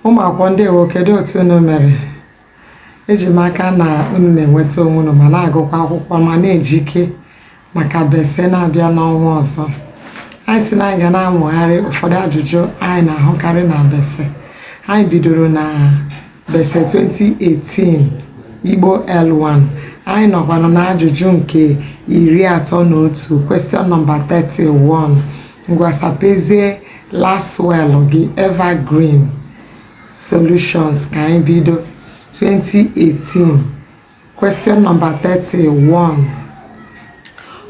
ụmụ akwụkwọ ndewo kedu otu unu mere eji m aka na unu na-enweta onwe unu ma na-agụkwa akwụkwọ ma na-ejike maka bece na-abịa n'ọnwa ọzọ anyị sị na anyị ga na-amụgharị ụfọdụ ajụjụ anyị na-ahụkarị na bece anyị bidoro na bece 2018 igbo l1 anyị nọkwanụ na ajụjụ nke iri atọ na otu question number 31 ngwa sapezie lasswell gị evergreen solutions ka anyị bido 2018 Question number 31.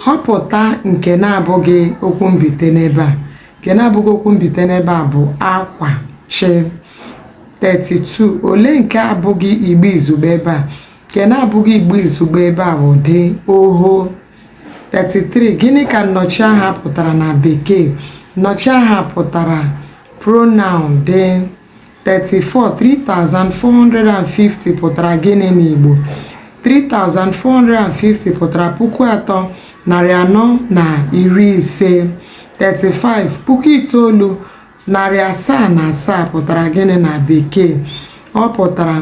Họpụta nke na-abụghị okwu mbite n'ebe a. Nke na-abụghị okwu mbite n'ebe a bụ akwa chị. 32. Olee nke abụghị igbe izugbe ebe a? Nke na-abụghị Igbo izugbe ebe a bụ dị oho. 33. Gịnị ka nnọchiaha pụtara na Bekee? Nnọchiaha pụtara pronoun dị. 34 3450 pụtara gịnị n'Igbo? 3450 pụtara puku atọ narị anọ na iri ise 35 puku itoolu narị asaa na asaa pụtara gịnị na Bekee? ọ pụtara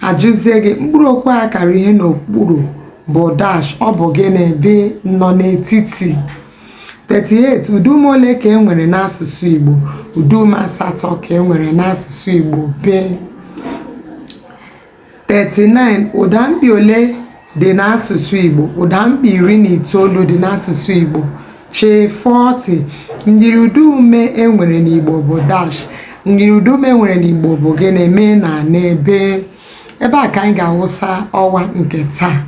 a jụzie gị mkpụrụ okwu a kara ihe n'okpuru bụ dash ọ bụ gịnị dị nnọnetiti 38 ụdaume ole ka e nwere n'asụsụ Igbo ụdaume asatọ ka e nwere n'asụsụ Igbo bị 39 ụdamkpị ole dị n'asụsụ Igbo ụdamkpị iri na itoolu dị n'asụsụ Igbo chị 40 myiriụdaume e nwere n'Igbo bụ dash myiriụdaume e nwere n'Igbo bụ gịnị m na n bị ebe a ka anyị ga-awụsa ọwa nke taa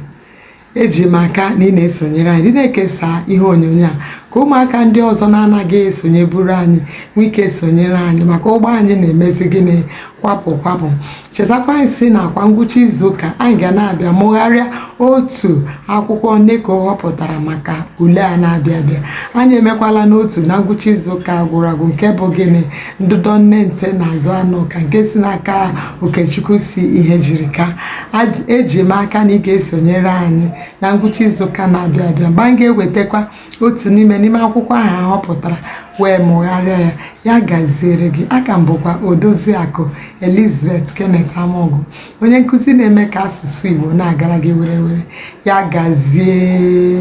eji m aka na ị na-esonyere anyị dị na-ekesa ihe onyonyo a ka ụmụaka ndị ọzọ na-anaghị esonyeburu anyị nwee ike sonyere anyị maka ụgbọ anyị na-emezi gịnị kwapụ kwapụ chetakwa anyị sị na kwa ngwụcha izuụka anyị ga na-abịa mụgharịa otu akwụkwọ neco họpụtara maka ule a na-abịa abịa anyị emekwalanụ otu na ngwụcha izuụka gwụrụ agwụ nke bụ gịnị ndụdọ nne nte na azụanụka nke si n'aka okechukwu c ihejirika eji m aka na ị ga-esonyere anyị na ngwụcha izuụka na-abịa abịa mgbe anyị ga-ewetakwa otu n'ime n'ime akwụkwọ ahụ a họpụtara wee mụgharịa ya ya gaziere gị aka m bụkwa odoziakụ elizabeth kenneth amaọgụ onye nkụzi na-eme ka asụsụ igbo na-agara gị were were ya gazie